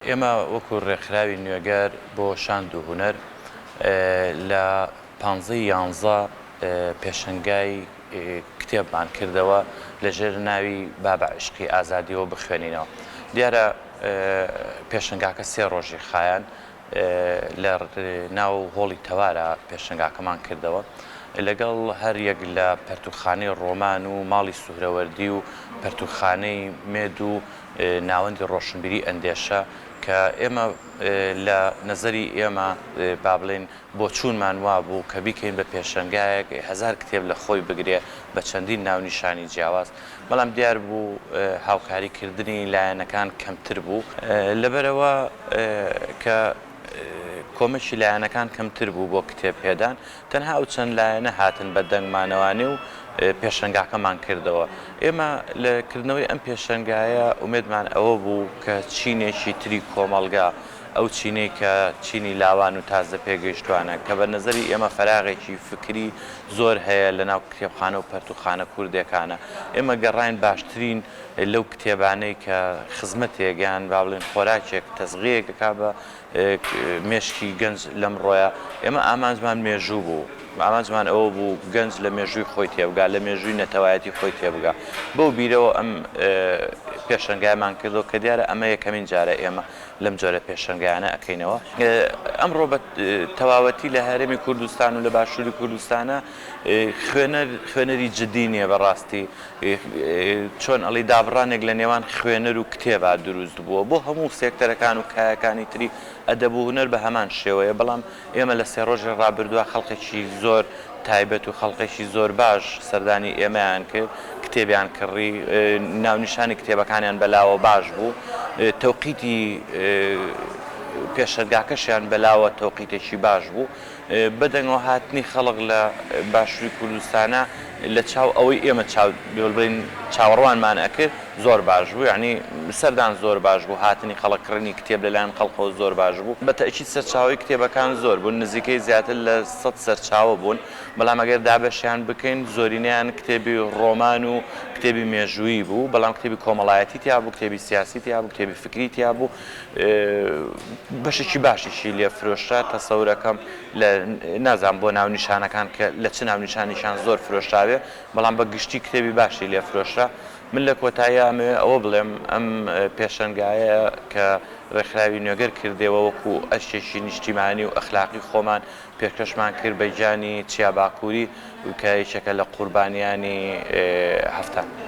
ئێمە وەکو ڕێکخراوی نوێگەر بۆ شاند و هونەر لە. پانزەی یانزە پێشەنگای کتێبمان کردەوە لە ژێر ناوی بابە عیشقی ئازادیەوە بخوێنینەوە دیارە پێشەنگاکە سێ ڕۆژی خایەن لە ناو هۆڵی تەوارە پێشنگاکەمان کردەوە لەگەڵ هەر یەک لە پەرتوخانی ڕۆمان و ماڵی سوهرەوەردی و پەرتوخانەی مێد و ناوەندی ڕۆشنبیری ئەندێشە کە ئێمە لە نەزەری ئێمە با بڵێن بۆچوونمان وابوو کە بیکەین بە پێشەنگایەک هەزار کتێب لە خۆی بگرێ بە چەندین ناونیشانی جیاواز، بەڵام دیار بوو هاوکاری کردنی لایەنەکان کەمتر بوو، لەبەرئەوە کە کۆمەکی لایەنەکان کەمتر بوو بۆ کتێب پێدان، تەنها ئەو چەند لایەنە هاتن بە دەنگمانەوانێ و پێشەنگاکەمان کردەوە. ئێمە لە کردنەوەی ئەم پێشەنگایە ئومێدمان ئەوە بوو کە چینێکی تری کۆمەڵگا، ئەو چینەی کە چینی لاوان و تازە پێگەیشتوانە، کە بە نەزەری ئێمە فەراغێکی فکری زۆر هەیە لە ناو کتێبخانە و پەرتووخانە کوردێکانە. ئێمە گەڕاین باشترین لەو کتێبانەی کە خزمەتێک یان با بڵێین خۆراکێک تەزغیەی دەکا بە مێشکی گەنج لەمڕۆیە. ئێمە ئامانجمان مێژوو بوو. ئامانجمان ئەوە بوو گەنج لە مێژووی خۆی تێبگا، لە مێژووی نەتەوایەتی خۆی تێبگا. بەو بیرەوە ئەم پێشەنگایەمان کردەوە کە دیارە ئەمە یەکەمین جارە ئێمە. لەم جۆرە پێشەنگایانە ئەکەینەوە ئەمڕۆ بە تەواوەتی لە هەرێمی کوردستان و لە باشووری کوردستانە خوێنەر خوێنەری جددی نییە بەڕاستی چۆن ئەڵی دابڕانێک لە نێوان خوێنەر و کتێبا دروست بووە بۆ هەموو سێکتەرەکان و کایەکانی تری ئەدەب و هوەر بە هەمان شێوەیە بەڵام ئێمە لە سێ ڕۆژی ڕابردووە خەڵقێکی زۆر تایبەت و خەڵقێکی زۆر باش سەردانی ئێمەیان کرد، کتێبیان کڕی، ناونیشانی کتێبەکانیان بەلاوە باش بوو، تەوقیتی پێشەنگاکەشیان بەلاوە تەوقیتێکی باش بوو، بەدەنگەوە هاتنی خەڵک لە باشووری کوردستانە، لە چاو ئەوەی ئێمە چاو دەبرین چاوەڕوانمان ئەکرد زۆر باش بوو یانی سەردان زۆر باش بوو هاتنی خەڵک کڕینی کتێب لەلایەن خەڵکەوە زۆر باش بوو بە تەئکید سەرچاوەی کتێبەکان زۆر بوون نزیکەی زیاتر لە سەد سەرچاوە بوون بەڵام ئەگەر دابەشیان بکەین زۆرینەیان کتێبی ڕۆمان و کتێبی مێژوویی بوو بەڵام کتێبی کۆمەڵایەتی تیابوو کتێبی سیاسی تیابوو کتێبی فکری تیابوو بەشێکی باشیشی لێ فرۆشرا تەسەورەکەم لە نازانم بۆ ناونیشانەکان کە لە چ ناونیشانێکیان زۆر فرۆشراوێ بەڵام بە گشتی کتێبی باشی لێ فرۆشرا من لە کۆتاییا ئەمەوێ ئەوە بڵێم ئەم پێشەنگایە کە ڕێکخراوی نوێگەر کردێوە وەکو ئەرکێکی نیشتیمانی و ئەخلاقی خۆمان پێکەشمان کرد بە گیانی چیا باکووری کە یەکێکە لە قوربانیانی هەفتە